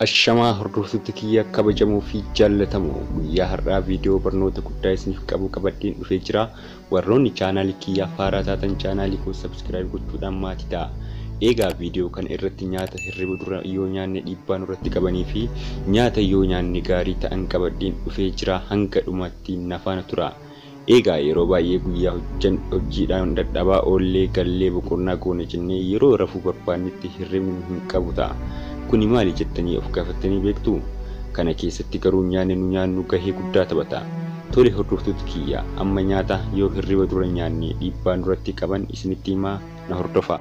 Ashamaa hordoftoota kiyya kabajamoo fi jaallatamoo guyyaa har'aa viidiyoo barnoota guddaa isiniif qabu qabadheen dhufee jira. Warroonni chaanaalii kiyya faaraa taatan chaanaalii koo sabskiraayib gochuudhaan maatii ta'a. Eegaa viidiyoo kana irratti nyaata hirriba dura yoo nyaanne dhiibbaa nurratti qabanii fi nyaata yoo nyaanne gaarii ta'an qabadheen dhufee jira hanga dhumaatti nafaana tura. Egaa yeroo baay'ee guyyaa hojjan hojjiidhaan dadhabaa oollee gallee boqonnaa goona jennee yeroo rafuu barbaannetti hirribni nu hin qabu ta'a. Kuni maali jettanii of gaafattanii beektuu? Kana keessatti garuu nyaanni nu nyaannu gahee guddaa taphata. Tole hordoftoota kiyya amma nyaata yoo hirriba dura nyaanne dhiibbaa nurratti qaban isinitti himaa na hordofaa.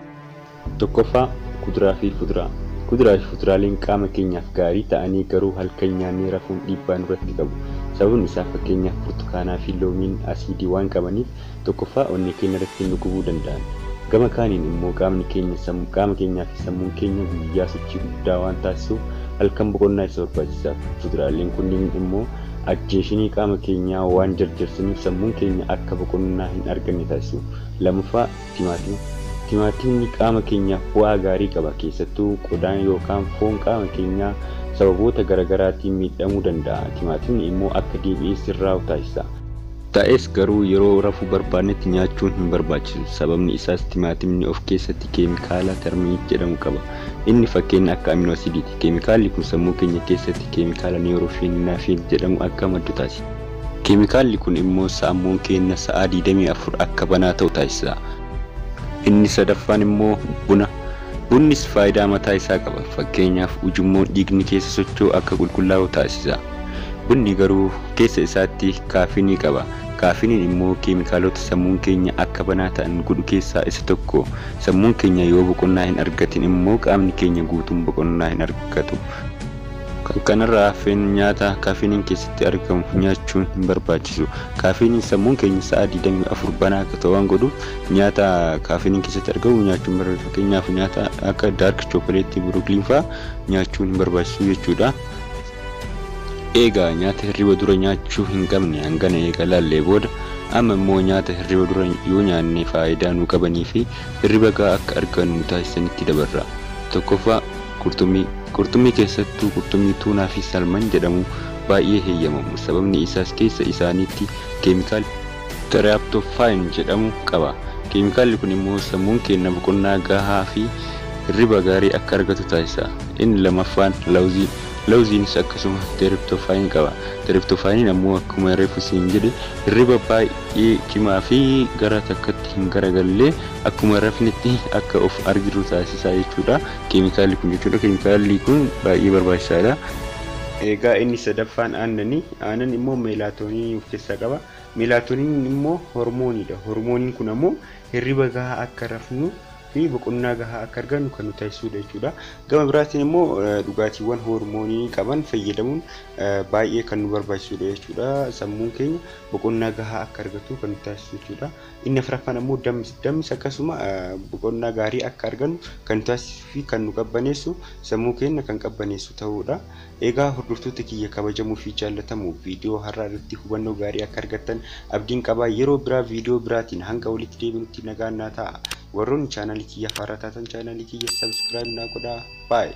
1ffaa Kuduraa fi Fuduraa Kuduraa fi fuduraaleen qaama keenyaaf gaarii ta'anii garuu halkan nyaannee rafuun dhiibbaa nurratti qabu. Sababni isaa fakkeenyaaf burtukaanaa fi loomiin asiidii waan qabaniif 1ffaa onnee keenya irratti nu gubuu danda'an. Gama kaaniin immoo qaamni keenya qaama keenyaa fi sammuun keenya guyyaa sochii guddaa waan taasisuuf halkan boqonnaa isa barbaachisaaf. Fuduraaleen kunniin immoo ajjeeshinii qaama keenyaa waan jarjarsaniif sammuun keenya akka boqonnaa hin arganne taasisu. 2ffaa. Timaatima, Timaatimni qaama keenyaaf bu'aa gaarii qaba, keessattuu qodaan yookaan foon qaama keenyaa sababoota garagaraatiin miidhamuu danda'a. Timaatimni immoo akka deebi'ee sirraa'u taasisa. Ta'es garuu yeroo rafuu barbaadnetti nyaachuun hin barbaachisu. Sababni isaas timaatimni of keessatti keemikaala terminate jedhamu qaba. Inni fakkeenna akka amino asidiiti. Keemikaalli kun sammuu keenya keessatti keemikaala neurofeninaphine jedhamu akka maddu taasisa. Keemikaalli kun immoo saammuun keenya sa'aa 24 akka banaa ta'u taasisa. Inni sadaffaan immoo buna. Bunnis faayidaa mataa isaa qaba. Fakkeenyaaf ujummoon dhiigni keessa socho'u akka qulqullaa'u taasisa. Bunni garuu keessa isaatti kaafinii qaba. Kaafiniin immoo keemikaalota sammuun keenya akka banaa ta'an godhu keessaa isa tokko. Sammuun keenya yoo boqonnaa hin argatin immoo qaamni keenya guutuun boqonnaa hin argatu. Kan kanarraa hafeen nyaata kaafiiniin keessatti argamu nyaachuun hin barbaachisu. Kaafiiniin sammuun keenya sa'a 24 banaa akka ta'u waan godhuuf nyaata kaafiiniin keessatti argamu nyaachuun barbaachisu. Fakkeenyaaf nyaata akka daark chookoleetii Brooklyn faa nyaachuun hin barbaachisu jechuudha. Eegaa nyaata hirriba dura nyaachuu hin qabne hangana eega laallee booda amma immoo nyaata hirriba dura yoo nyaanne faayidaa nuu qabanii fi hirriba gahaa akka argannu nu taasisanitti dabarra. Tokkoffaa Qurxummii, Qurxummii keessattuu qurxummii tuunaa fi salman jedhamu baay'ee heyyamamu sababni isaas keessa isaaniitti keemikaala. Tryaptophyne jedhamu qaba. Keemikaalli kun immoo sammuun keenna boqonnaa gahaa fi hirriba gaarii akka argatu taasisa. Inni lammaffaan lawuzii, lawuziinis akkasuma tryptophyne qaba. Tryptophyne ammoo akkuma reefuu siin jedhe hirriba baay'ee cimaa fi gara takkatti hin garagallee akkuma rafnetti akka of arginu taasisa jechuudha. Keemikaalli kun jechuudha. Keemikaalli kun baay'ee barbaachisaadha. Egaa inni sadaffaan aannani. Aannan immoo meelaatooniinii of keessaa qaba. Meelaatooniiniin immoo hormooniidha. Hormooniin kun ammoo hirriba gahaa akka rafnu fi boqonnaa gahaa akka argannu kan nu taasisuudha jechuudha. Gama biraatiin immoo dhugaatiiwwan hormooniinii qaban fayyadamuun baay'ee kan nu barbaachisuudha jechuudha. Sammuun keenya boqonnaa gahaa akka argatu kan nu taasisu jechuudha. Inni afraffaan ammoo dammisa. Dammisi akkasuma boqonnaa gaarii akka argannu kan nu taasisuu fi kan nu qabbaneessu, sammuu keenya kan qabbaneessu ta'uu dha. Egaa hordoftoota kiyya kabajamoo fi jaallatamoo viidiyoo har'aa irratti hubannoo gaarii akka argattan abdiin qaba. Yeroo biraa viidiyoo biraatiin hanga walitti deebinutti nagaan naa ta'aa. Warroonni chaanaalii kiyyaaf haaraa taatan chaanaalii kiyya subscribe naa godhaa. Bye!